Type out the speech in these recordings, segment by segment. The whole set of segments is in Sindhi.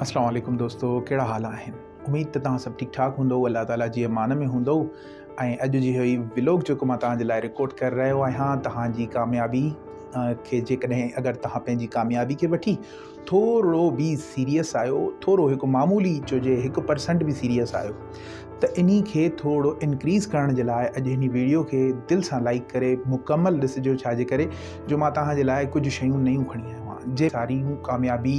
اسلام عليڪم دوستو ڪهڙا حال آهن اميد ته توهان سڀ ٺيڪ ٺاڪ هوندو الله تعالي جي امان ۾ هوندو ۽ اڄ جي هي ولوگ جيڪو مان توهان جي لاء رڪارڊ ڪري رهيو آهيان توهان جي ڪاميابي کي جيڪڏهن اگر توهان پنهنجي ڪاميابي کي وٺي ٿورو به سيريس آهيو ٿورو هڪ معمولي چوجي هڪ پرسنٽ به سيريس آهيو ته انهي کي ٿورو انڪريز ڪرڻ جي لاء اڄ هن ويڊيو کي دل سان لائڪ ڪري مڪمل ڏسجو ڇاجي ڪري جو مان توهان جي لاء ڪجهه شيون نيون کڻي آيو آهيان جي ساريون ڪاميابي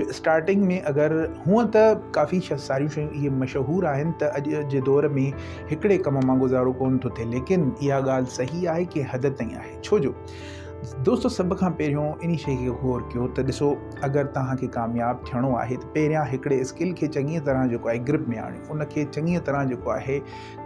جو اسٽارٽنگ ۾ اگر هونء ته ڪافي ساريون شيون اهي مشهور آهن ته اڄ جي دور ۾ هڪڙي ڪم مان گذارو ڪونه ٿو ٿئي ليڪن اها ڳالهه صحيح آهي ڪنهن حد تائين آهي ڇو جو دوستو سڀ کان پهريون انهي شيء کي غور ڪيو ته ڏسو اگر توهان کي ڪامياب ٿيڻو آهي ته پهريان هڪڙي اسڪل کي چڱيء طرح جيڪو آهي گرپ ۾ آڻيو ان کي چڱيء طرح جيڪو آهي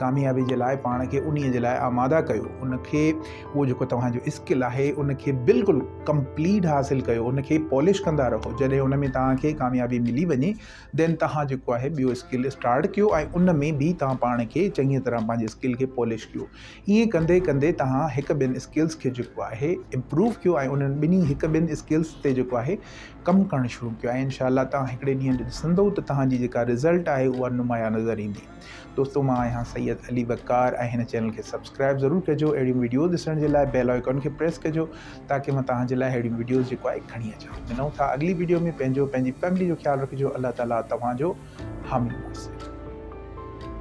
ڪاميابي جي لاء پاڻ کي انهي جي لاء آماده ڪيو ان کي اهو جيڪو توهان جو اسڪل آهي ان کي بلڪل ڪمپليٽ حاصل ڪيو ان کي پالش ڪندا رهو جڏهن ان ۾ توهان کي ڪاميابي ملي وڃي دين توهان جيڪو آهي ٻيو اسڪل اسٽارٽ ڪيو ۽ ان ۾ به توهان پاڻ کي چڱي طرح پنهنجي اسڪل کي پالش ڪيو ائين ڪندي ڪندي توهان هڪ ٻين اسڪلس کي جيڪو آهي امپروو ڪيو ۽ انهن ٻنهي هڪ ٻين اسڪلس تي جيڪو آهي ڪم ڪرڻ شروع ڪيو ۽ انشاء الله توهان هڪڙي ڏينهن ڏسندو ته توهان جي جيڪا رزلٽ آهي اها نمايان نظر ايندي دوستو مان آهيان سيد علي وقار ۽ هن چينل کي سبسڪرائب ضرور ڪجو اهڙيون ويڊيوز ڏسڻ جي لاء بيل آئيڪن کي پريس ڪجو تاڪي مان توهان جي لاء اهڙيون ويڊيوز جيڪو آهي کڻي اچان ملون ٿا اڳلي ويڊيو ۾ پنهنجو پنهنجي فيملي جو خيال رکجو الله تعاليٰ توهان جو حامي ناصر